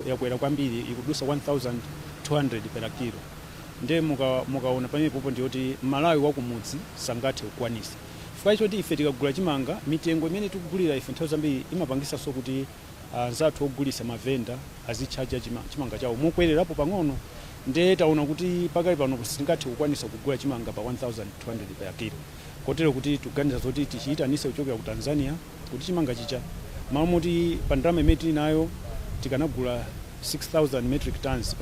yakwera kwambiri ikudusa 1200 per kilo nde muka- mukaona pamenepopo ndiyoti mmalawi wakumudzi sangathe kukwanisa chifukwa choti ife tikagula chimanga mitengo imene tikugulira ife nthawi zambiri imapangisanso kuti anzathu ogulisa mavenda azitchaja chima- chimanga chawo mokwererapo pang'ono nde taona kuti pakali pano sitingathe kukwanisa kugula chimanga pa 1200 per kilo kotero kuti tikuganiza zoti tichiyitanise kuchokera ku tanzania kuti chimanga chija mmalo moti pa ndalama imene tili nayo tikanagula 6000 metric tonnes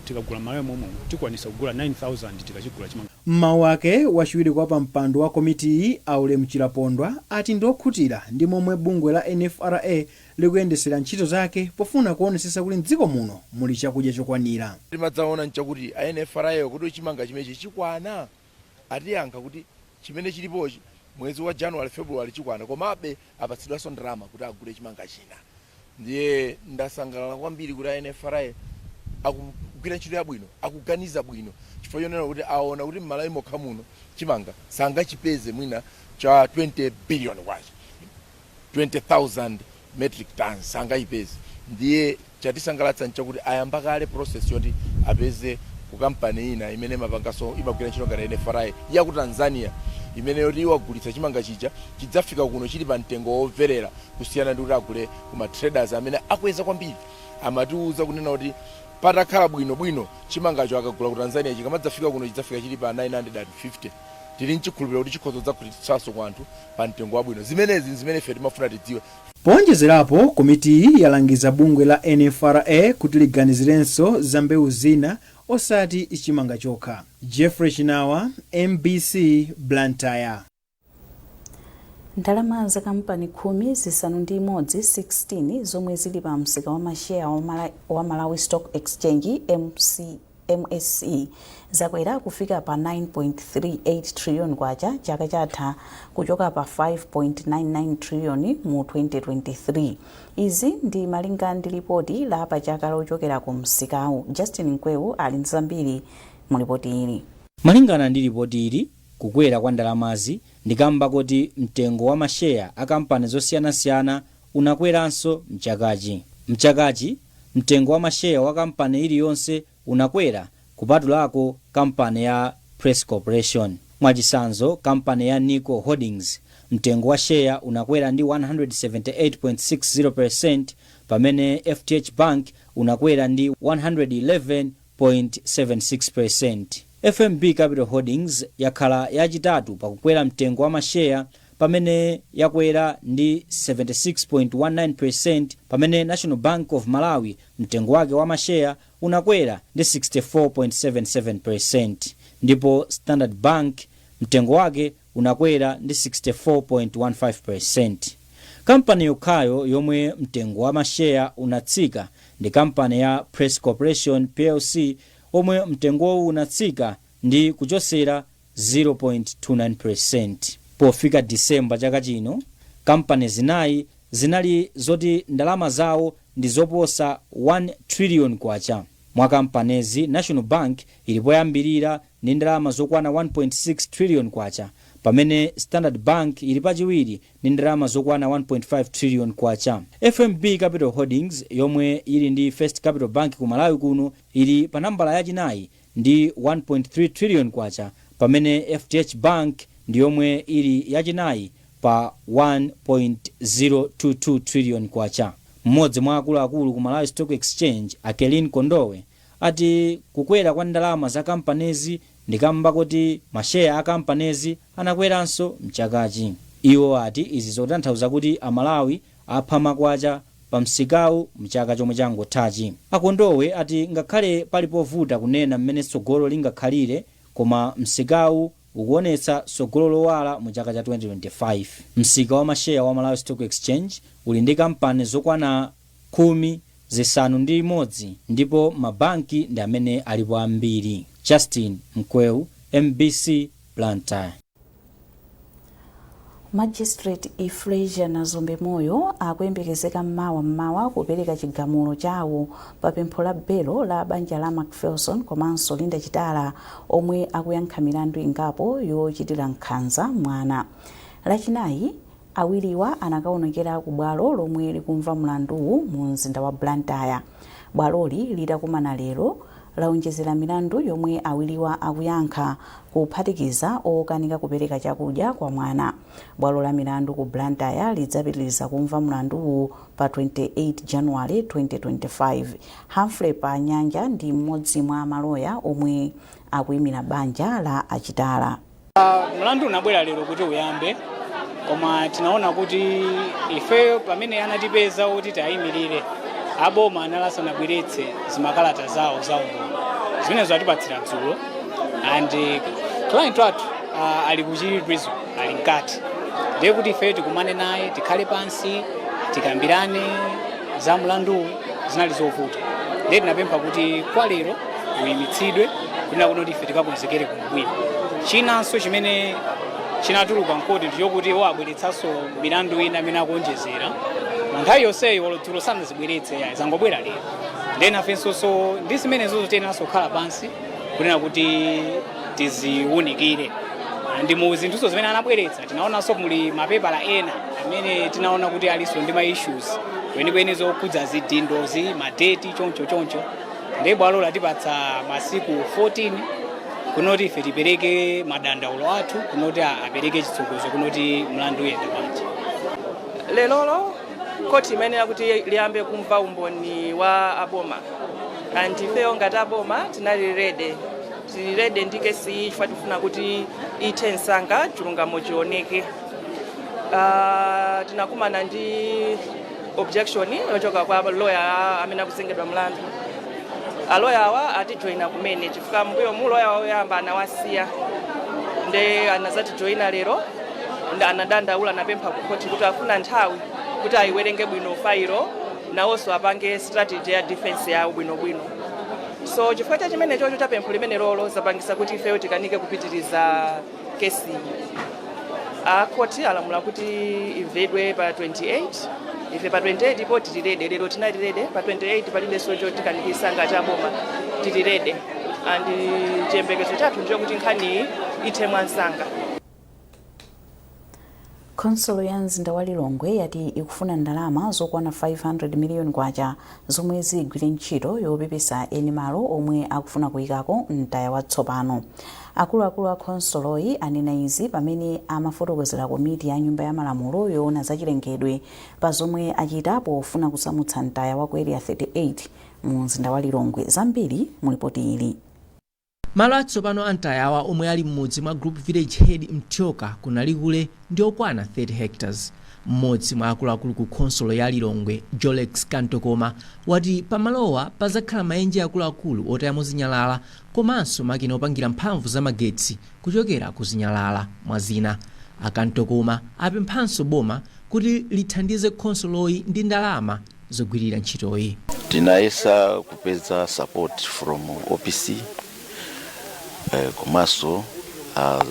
tikagula mmalawi mommuno tikwanisa kugula 9000 tikachigula chimanga. Mmawu ake, wachiwiri kwa pampando wa komitiyi a Ulemu Chilapondwa ati ndi okhutira ndi momwe bungwe la NFRA likuyendesera ntchito zake pofuna kuonesesa kuti mdziko muno muli chakudya chokwanira. Timadzaona nchakuti a NFRA wo kodi chimanga chimechi chikwana? atiyankha kuti chimene chilipochi mwezi wa January, February chikwana komabe apatsidwanso ndalama kuti agule chimanga china. Ndiye ndasangalala kwambiri kuti a NFRA akugwira ntchito yabwino, akuganiza bwino chifukwa chonena kuti aona kuti m'Malawi mokha muno chimanga sangachipeze mwina cha 20 billion kwacha. 20,000 metric tonnes sangachipeze ndiye chatisangalatsa nchakuti ayamba kale process yoti apeze ku company ina imene imapanganso imagwira ntchito ngati NFRA ya ku Tanzania imene yoti iwagulitsa chimanga chija chidzafika kuno chili pa mtengo womverera kusiyana ndi kuti agule ku ma traders amene akweza kwambiri amatiuza kunena kuti patakhala bwino bwino chimangacho akagula ku Tanzania chikamadzafika kuno chidzafika chili pa 950 tili n'chikhulupiriro kuti chikhoza kudzagulitsanso kwa anthu pa mtengo wabwino. Zimenezi n'zimene ife timafuna tidziwe. Poonjezerapo, komitiyi yalangiza bungwe la NFRA kuti liganizirenso za mbewu zina osati chimanga chokha. Jeffrey Chinawa, mbc, Blantyre. Ndalama za kampani khumi, zisanu ndi imodzi, 16, zomwe zili pa msika wa masheya wa Malawi Stock Exchange, mse, mse, zakwera kufika pa K9.38 trillion chaka chatha kuchoka pa K5.99 trillion mu 2023. Izi ndi malinga ndi lipoti la pa chaka lochokera ku msikawu. Justin Mkwewu ali ndi zambiri mu lipoti ili. Malingana ndi lipoti ili, kukwera kwa ndalamazi ndi kamba koti mtengo wa masheya a kampani zosiyanasiyana unakweranso m'chakachi. M'chakachi, mtengo wa masheya wa kampani iliyonse unakwera kupatulako kampani ya Press Corporation. Mwachitsanzo, kampani ya Nico Holdings, mtengo wa sheya unakwera ndi 178.60 peresenti pamene FDH Bank unakwera ndi 111.00. 6% FMB Capital Holdings yakhala yachitatu pa kukwera mtengo wa masheya pamene yakwera ndi 76.19% pamene National Bank of Malawi mtengo wake wa masheya unakwera ndi 64.77% ndipo Standard Bank mtengo wake unakwera ndi 64.15%. Kampani yokhayo yomwe mtengo wa masheya unatsika ndi kampani ya Press Corporation Plc omwe mtengowu unatsika ndi kuchosera 0.29%. Pofika Disemba chaka chino, kampani zinayi zinali zoti ndalama zawo ndi zoposa K1 trillion. Mwa kampanezi, National Bank ili poyambirira ndi ndalama zokwana K1.6 trillion pamene Standard Bank ili pachiwiri ndi ndalama zokwana K1.5 trillion. FMB Capital Holdings yomwe yili ndi First Capital Bank ku Malawi kuno ili pa nambala yachinayi ndi K1.3 trillion pamene FDH Bank ndi yomwe ili yachinayi pa K1.022 trillion. Mmodzi mwa akuluakulu ku Malawi Stock Exchange, a Kelline Kondowe, ati kukwera kwa ndalama za kampanezi ndi kamba koti masheya a kampanezi anakweranso mchakachi. Iwo ati izi zotanthauza kuti a Malawi apha makwacha pa msikawu mchaka chomwe changothachi. A Kondowe ati ngakhale pali povuta kunena m'mene tsogolo lingakhalire koma msikawu ukuonetsa tsogolo lowala mu chaka cha 2025. Msika wa masheya wa Malawi Stock Exchange uli ndi kampani zokwana khumi zisanu ndi imodzi ndipo ma banki ndi amene alipo ambiri. Justin Mkweu, MBC, Blantyre. Magistrate Euphrasia Nazombe Moyo akuyembekezeka m'mawa m'mawa kupereka chigamulo chawo pa pempho la belo la banja la Macpherson komanso Linda Chitala omwe akuyankha milandu ingapo yochitira nkhanza mwana. Lachinayi, awiriwa anakaonekera ku bwalo lomwe likumva mlanduwu mu mzinda wa Blantyre. Bwaloli litakumana lero, laonjezera milandu yomwe awiriwa akuyankha, kuphatikiza okanika kupereka chakudya kwa mwana. Bwalo la milandu ku Blantyre lidzapitiliza kumva mlanduwu pa 28 January 2025. Humphrey Panyanja ndi mmodzi mwa maloya omwe akuimira banja la a Chitala. Mlandu unabwera lero kuti uyambe koma tinaona kuti ifeyo pamene anatipeza kuti tayimirire aboma anali asanabweretse zimakalata zawo za umboni zimenezo atipatsira dzulo and client wathu uh, ali ku Chichiri prison ali mkati ndiye kuti ifeyo tikumane naye tikhale pansi tikambirane za mlanduwu zinali zovuta ndiye tinapempha kuti kwa lero uyimitsidwe kunena kuti ife tikakonzekere bwino. Chinanso chimene chinatuluka mkoti ndichokuti iwo abweretsanso milandu ina imene akuonjezera mu nthawi yonseyo olo dzulo sanazibweretse yayi zangobwera lero ndiye nafenso ndi zimenezo tiyeneranso kukhala pansi kunena kuti tiziwunikire ndi mu zinthuzo zimene anabweretsa tinaonanso muli mapepala ena amene tinaona kuti alinso ndi ma issues kwenikweni zokhudza zidindozi madeti choncho choncho ndiye bwalo latipatsa masiku 14 kunoti ife tipereke madandaulo athu kunoti a- apereke chitsogozo kunoti mlandu uyende bwanji lerolo khoti imayenera kuti liyambe kumva umboni wa aboma and ifeyo ngati aboma tinali rede tili rede ndi kesi iyi chifukwa tifuna kuti ithe msanga chilungamo chioneke Ah, tinakumana ndi objection yochoka kwa loya amene akuzengedwa mlandu aloya awa atijoyina kumene chifukwa mbuyo mu loya woyamba anawasiya nde anazatijoyina lero nde anadandaula anapempha ku khoti kuti afuna nthawi kuti ayiwerenge bwino failo nawonso apange strategy ya defense yawo bwinobwino so chifukwa cha chimene chocho chapempho limene lolo zapangisa kuti ifeyo tikanike kupitiriza kesi a khoti alamula kuti imvedwe pa 28 ife pa 28 po tili rede lero tinali rede pa 28 palibenso chotikanikisa ngati aboma tili rede and chiyembekezo chathu ndichokuti nkhaniyi ithe mwansanga Khonsolo ya mzinda wa Lilongwe yati ikufuna ndalama zokwana K500 miliyoni zomwe zigwire ntchito yopepesa eni malo omwe akufuna kuikako mtaya watsopano. Akuluakulu a khonsoloyi anena izi pamene amafotokozera komiti ya Nyumba ya Malamulo yoona za chilengedwe pa zomwe achita pofuna kusamutsa mtaya wa ku Area 38 mu mzinda wa Lilongwe. Zambiri mu lipoti ili. Malo atsopano a mtayawa omwe ali mmudzi mwa Group Village Head Mthyoka ku Nalikule ndi okwana 30 hectares. Mmodzi mwa akuluakulu ku khonsolo ya Lilongwe Jolex Kantokoma wati pa malowa padzakhala maenje akuluakulu otayamo zinyalala komanso makina opangira mphamvu za magetsi kuchokera ku zinyalala mwa zina. A Kantokoma apemphanso boma kuti lithandize khonsoloyi ndi ndalama. zogwirira ntchitoyi. tinayesa kupeza support from opc eh, komanso a,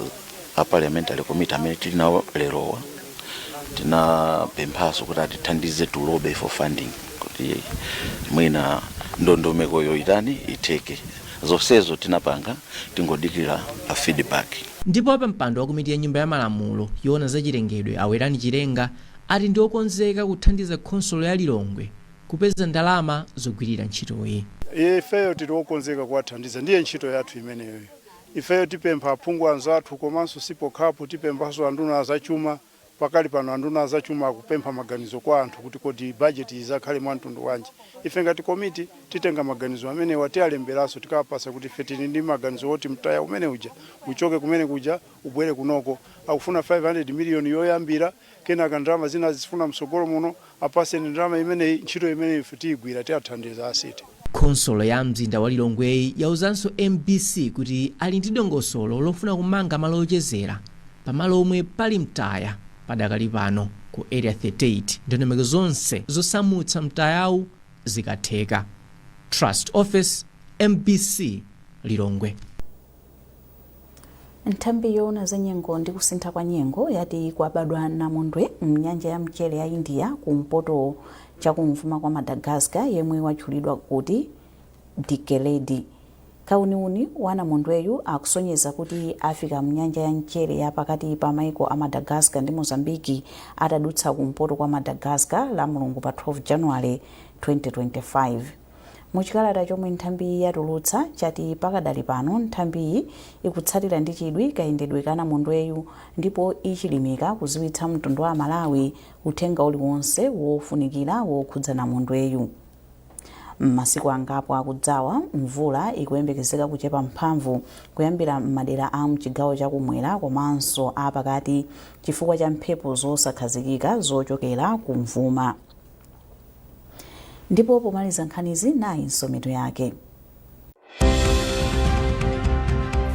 a parliamentary committee amene tili nawo lerowa tinapemphanso kuti atithandize to lobby for funding kuti mwina ndondomekoyoyi itani itheke zonsezo tinapanga tingodikira a feedback Ndipo wapampando wa komiti ya nyumba ya malamulo yoona za chilengedwe a Werani Chilenga ati ndi okonzeka kuthandiza khonsolo ya Lilongwe kupeza ndalama zogwirira ntchitoyi. Ifeyo tili okonzeka kuwathandiza ndiye ntchito yathu imeneyoyo. Ifeyo tipempha aphungu anzathu komanso si pokhapo, tipemphanso anduna a zachuma. Pakali pano anduna a zachuma akupempha maganizo kwa anthu kuti kodi bajetiyi idzakhale mwa mtundu wanji. Ife ngati komiti titenga maganizo amenewa, tialemberanso tikawapatse kuti ife tili ndi maganizo woti mtaya umene uja uchoke kumene kuja ubwere kunoko. Akufuna 500 miliyoni yoyambira. kenaka ndalama zina azifuna mtsogolo muno, apatseni ndalama imeneyi, ntchito imene ife tiyigwira tiathandiza a city. Khonsolo ya mzinda wa Lilongweyi yauzanso mbc kuti ali ndi dongosolo lofuna kumanga malo ochezera pa malo omwe pali mtaya padakali pano ku Area 38 ndondomeko zonse zosamutsa mtayawu zikatheka. Trust Office, mbc, Lilongwe. Nthambi yoona za nyengo ndi kusintha kwa nyengo yati kwabadwa namondwe m'nyanja ya mchere ya India kumpoto chakumvuma kwa Madagascar yemwe watchulidwa kuti Dikeledi. Kauniuni wa namondweyu akusonyeza kuti afika m'nyanja ya mchere ya pakati pa maiko a Madagascar ndi Mozambique atadutsa kumpoto kwa Madagascar lamulungu pa 12 January 2025. Mu chikalata chomwe nthambiyi yatulutsa chati pakadali pano nthambiyi ikutsatira ndi chidwi kayendedwe ka namondweyu ndipo ichilimika kudziwitsa mtundu wa aMalawi uthenga uliwonse wofunikira wokhudza namondweyu. M'masiku angapo akudzawa, mvula ikuyembekezeka kuchepa mphamvu kuyambira m'madera a mchigawo cha kumwera komanso a pakati chifukwa cha mphepo zosakhazikika zochokera kumvuma. Ndipo pomaliza nkhanizi nayinso mitu yake.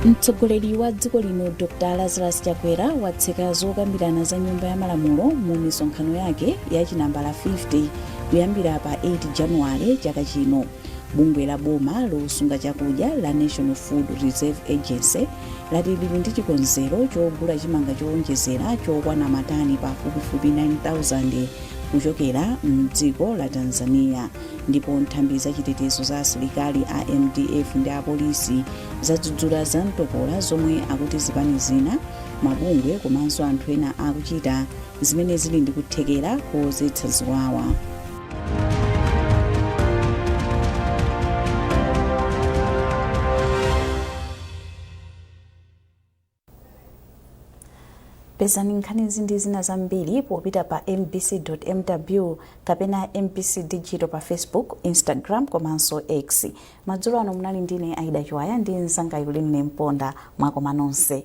Mtsogoleri wa dziko lino Dr Lazarus Chakwera watseka zokambirana za nyumba ya malamulo mu misonkhano yake ya chinambala 50 kuyambira pa 8 Januwale chaka chino. bungwe la boma losunga chakudya la national food reserve agency lati lili ndi chikonzero chogula chimanga chowonjezera chokwana matani pafupifupi 9000 kuchokera mdziko la tanzania ndipo nthambi za chitetezo za asilikali a mdf ndi apolisi zadzudzula za mtopola zomwe akuti zipani zina mabungwe komanso anthu ena akuchita zimene zili ndi kuthekera kodzetsa ziwawa pezani nkhanizi ndi zina zambiri popita pa mbc mw kapena mbc digital pa facebook instagram komanso x madzulo ano munali ndine aida chiwaya ndi mzanga yuline mponda mwakoma nonse